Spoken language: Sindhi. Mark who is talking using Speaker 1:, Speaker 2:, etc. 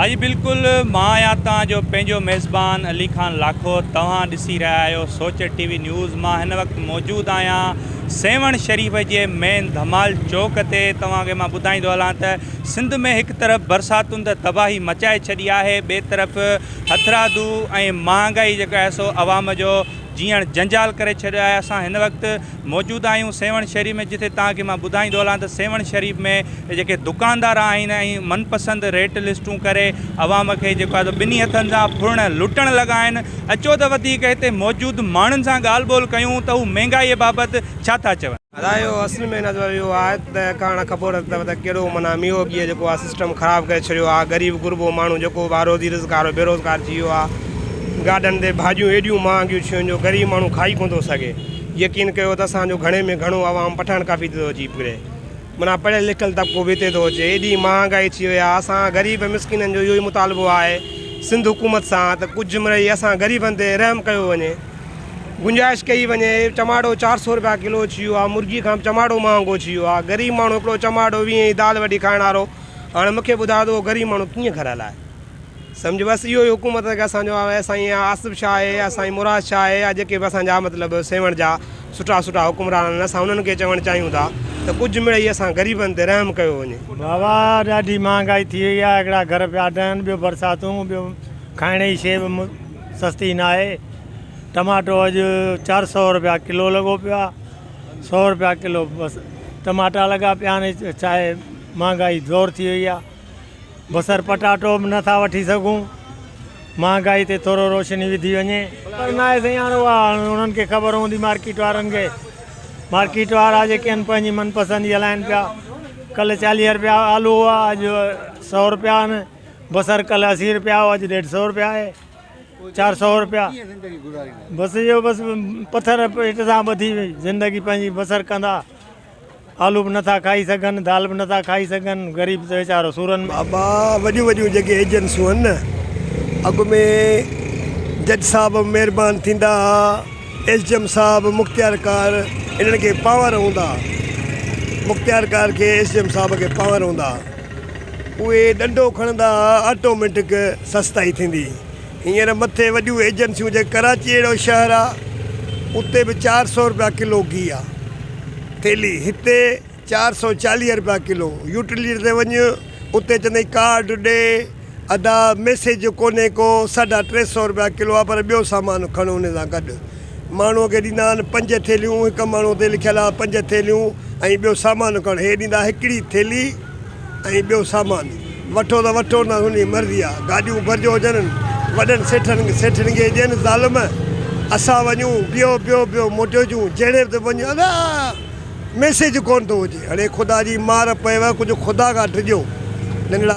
Speaker 1: اڄ بلڪل مان آهيان توهان جو پنهنجو ميزبان علي خان لاکور توهان ڏسي رهيا آهيو سوچ ٽي وي نيوز مان هن وقت موجود آهيان سيوهڻ شريف جي مين ڌمال چوڪ تي توهان کي مان ٻڌائيندو هلان ته سنڌ ۾ هڪ طرف برساتن ته تباهي مچائي ڇڏي آهي ٻي طرف هٿرادو ۽ مهانگائي جيڪا آهي سو عوام جو جيئڻ جنجال ڪري ڇڏيو آهي اسان هن وقت موجود آهيون سيوهڻ شريف ۾ جتي توهان کي مان ٻڌائيندو هلان ته سيوهڻ شريف ۾ جيڪي دڪاندار آهن ۽ من پسند ريٽ لسٽون ڪري عوام کي جيڪو آهي ٻنهي هٿن سان ڦرڻ لٽڻ لڳا آهن اچو ته وڌيڪ هتي موجود ماڻهن سان ڳالهه ٻولهه ڪيون ته هو مهنگائي بابت ڇا ٿا چون. ادا اهو اصل ۾
Speaker 2: نظر اهو آ ته ڪاڻ خبر اٿو ته ڪهڙو معنيٰ ميو اڳيء جيڪو آ سسٽم خراب ڪري ڇڏيو آ غريب غربو ماڻهو جيڪو به آ روزي رزق وارو بي روزگار ٿي ويو آ گاڏن تي ڀاڄيون ايڏيون مهانگيون ٿيون جو غريب ماڻهو کائي ڪونه ٿو سگهي يقين ڪيو ته اسان جو گهڻي ۾ گهڻو عوام پٺاڻ ڪافي تي ٿو اچي پڙهي معنيٰ پڙهيل لکيل طبقو به اتي ٿو اچي ايڏي مهانگائي ٿي وئي آ اسان غريب مسڪينن جو اهو ئي مطالبو آهي سنڌ حڪومت سان ته ڪجهه مڙئي اسان غريبن تي رحم ڪيو وڃي گنجائش ڪئي وڃي چماٽو چار سئو روپيا ڪلو اچي ويو آ مرغي کان به چماٽو مهانگو اچي ويو آ غريب ماڻهو هڪڙو چماٽو ويهه جي دال وڍي کائڻ وارو هاڻي مونکي ٻڌايو ته اهو غريب ماڻهو ڪيئن گهر هلائي سمجهه بس اهو ئي حڪومت کي اسان جو آهي سائين يا آصف شاهه آهي يا سائين مراد شاهه آهي يا جيڪي به اسان جا مطلب سيوهڻ جا سٺا سٺا حڪمران آهن اسان انهن کي چوڻ چاهيون ٿا ته ڪجهه مڙئي اسان غريبن تي رحم ڪيو وڃي. بابا ڏاڍي
Speaker 3: مهانگائي ٿي وئي آ هڪڙا گهر پيا ڊهن ٻيو برساتون ٻيو کائڻ جي شي به سستي ناهي ٽماٽو اڄ چار سو روپيا ڪلو لڳو پيو آ سو روپيا ڪلو بس ٽماٽا لڳا پيا آهن ڇا آهي مهانگائي زور ٿي وئي آ بصر پٽاٽو به نٿا وٺي سگهون مهانگائي تي ٿورو روشني وڌي وڃي پر نه آهي سائين هاڻي اها انهن کي خبر هوندي مارڪيٽ وارن کي مارڪيٽ وارا جيڪي آهن پنهنجي من پسند جي هلائن پيا ڪل چاليهه روپيا آلو هئا اڄ سو روپيا آهن بصر ڪلھ اسي روپيا ھو اڄ ڏيڍ سئو روپيا آھي چار سئو روپيا بس اھو بس پٿر پيٽ سان ٻڌي زندگي پنھنجي بصر ڪندا آلو به نٿا کائي سگھن دال به نٿا کائي سگھن غريب ته ويچارو سورن ۾ بابا وڏيون وڏيون
Speaker 4: جيڪي ايجنسيون آھن نه اڳ ۾ جج صاحب مھربان ٿيندا ھا ايس جي ايم صاحب مختيار ڪار انھن کي پاور ھوندا ھا مختيار ڪار کي ايس جي ايم صاحب کي پاور ھوندا ھا اهي ڏنڊو کڻندا ها آٽوميٽڪ سستائي ٿيندي هينئر مٿي وڏيون ايجنسيون جي ڪراچي اهڙو شهر آ اتي به چار سو روپيا ڪلو گيهه آ ٿيلي هتي چار سو چاليهه روپيا ڪلو يوٽليٽري تي وڃ اتي چوندي ڪارڊ ڏي ادا ميسج جو ڪونهي ڪو ساڍا ٽي سئو روپيا ڪلو آ پر ٻيو سامان کڻ ان سان گڏ ماڻهو کي ڏيندا آهن پنج ٿيلهيون هڪ ماڻهو تي لکيل آ پنج ٿيلهيون ۽ ٻيو سامان کڻ هي ڏيندا هڪڙي ٿيلهي ۽ ٻيو سامان وٺو ته وٺو نه تنهنجي مرضي آ گاڏيون ڀرجو هجن وڏن سيٺن سيٺن کي ڏين ظالم اسان وڃون بيهو بيهو بيهو موٽيو اچون جهڙي به وڃ ادا ميسج ڪون ٿو هجي هڙي خدا جي مار پيو ڪجهه خدا کان ڊڄو ننڍڙا